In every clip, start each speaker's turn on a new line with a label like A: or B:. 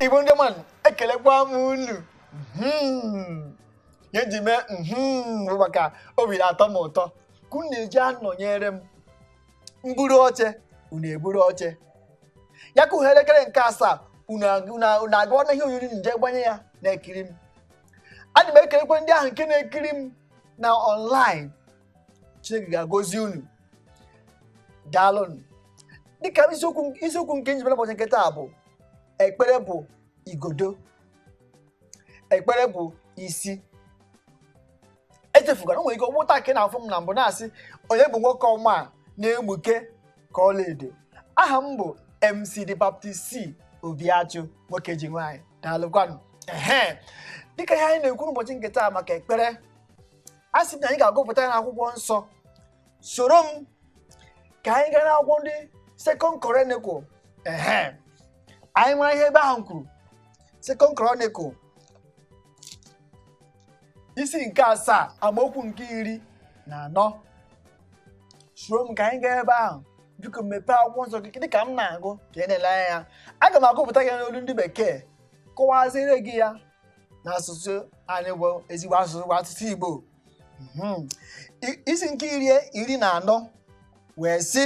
A: igbo ndị ọma ekelekwa m unu Mhm. ihe ji mee mhm bụ maka obi na-atọ m ụtọ ka unu na-eji anọnyere m m buru oche unu eburu oche ya ka ihe elekere nke asaa unu ag- unu a- unu agaa na ihe onyonyo je gbanye ya na-ekiri m ana m ekelekwa ndị ahụ nke na-ekiri m na online chineke ga-agọzi unu daalụnụ dịka isiokwu isiokwu nke m ji bịara ụbọchị nke taa bụ ekpere bụ igodo ekpere bụ isi echefugara o nwere ike ọ wụ taa ka ị na-afụ m na mbụ na-asị onye bụ nwoke ọma a na-egbuke ka ọlaedo aha m bụ mc the baptist c obiachụ nwoke ji nwaanyị daalụkwanụ ehe dịka ihe anyị na-ekwu n'ụbọchị nke taa maka ekpere asị m na anyị ga-agụpụta ya n'akwụkwọ nsọ soro m ka anyị gaa n'akwụkwọ ndị second chronicle ehe anyị mara ihe ebe ahụ kwuru second chronicle isi nke asaa amaokwu nke iri na anọ soro m ka anyị gaa ebe ahụ biko mepee akwụkwọ nsọ gị dị ka m na-agụ ka ị na-ele anya ya aga m agụpụta ya n'olu ndị bekee kọwaziere gị ya n'asụsụ anyị bụ ezigbo asụsụ bụ asụsụ Igbo Mhm. I- isi nke iri iri na anọ wee sị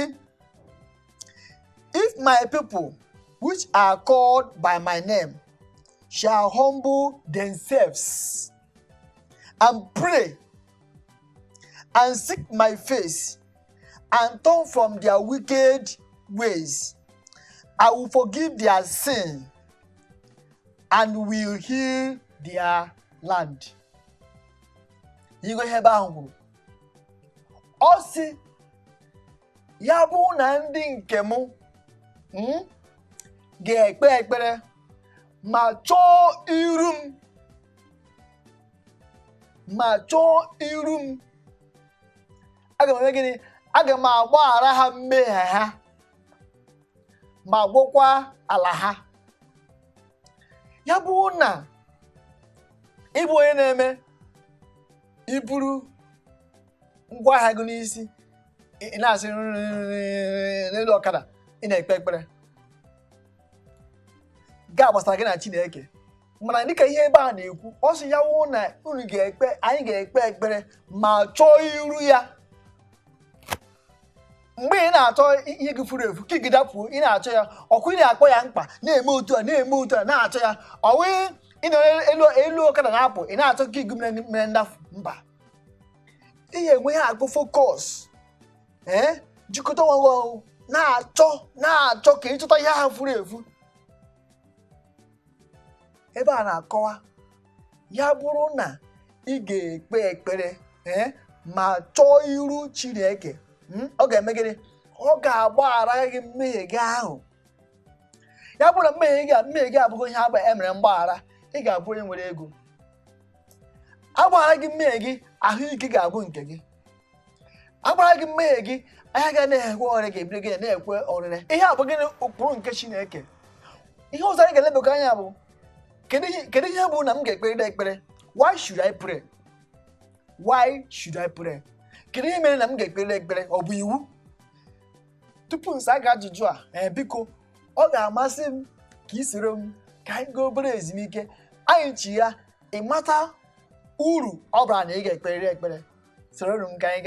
A: if my people which are called by my name shall humble themselves and pray and seek my face and turn from their wicked ways i will forgive their sin and will heal their land ị gụọ ihe ebe ahụ kwuru ọ sị ya bụ na ndị nke m mm, ga-ekpe ekpere ma chọọ iru m aga m eme gịnị aga m agbaghara ha mmehie ha ma gwọkwa ala ha ya bụ na ị bụ onye na-eme i buru ngwa ahịa gị n'isi ị nọsị n'elu ọkada ị na-ekpe ekpere ga gbasara gị na Chineke mana dịka ihe ebe a na-ekwu ọ sị ya wụ na unu ga-ekpe anyị ga-ekpe ekpere ma chọọ iru ya mgbe ị na-achọ ihe gị furu efu key gị dapụ ị na-achọ ya ọkụ ị na-akpọ ya mkpa na-eme otu a na-eme otu a na-achọ ya ọ wụ ị nọ elu elu ọkada na-apụ ị na-achọ key gị mere mere ndafu mba ị ga-enwe ihe a wụ focus ee jikọta onwe gị ọnụ na-achọ na-achọ ka ịchọta ihe ahụ furu efu ebe a na-akọwa ya bụrụ na ị ga-ekpe ekpere ee ma chọọ iru chineke mm, ọ ga-eme gịnị ọ ga-agbaghara gị mmehie gị ahụ ya bụrụ na mmehie gị a- mmehie gị abụrụ ihe agba- e mere mgbaghara ị ga-abụ onye nwere ego a gbaghara gị mmehie gị ahụike ga-abụ nke gị a gbaghara gị mmehie gị anya ga na-ekwe ọrịa ga-ebido gị na-ekwe ọrịre ihe a bụ gịnị ụkpụrụ nke chineke ihe ọzọ anyị ga-elebakwa anya bụ kedu ihe kedu ihe bụ na m ga-ekperịta ekpere why should I pray why should I pray kedu ihe mere na m ga-ekperịta ekpere ọ bụ iwu tupu m saa gị ajụjụ a ee biko ọ ga-amasị m ka ị soro m ka anyị gaa obere ezumike anyị chighaa ị mata uru ọ bara na ị ga-ekperịrị ekpere soro m ka anyị gaa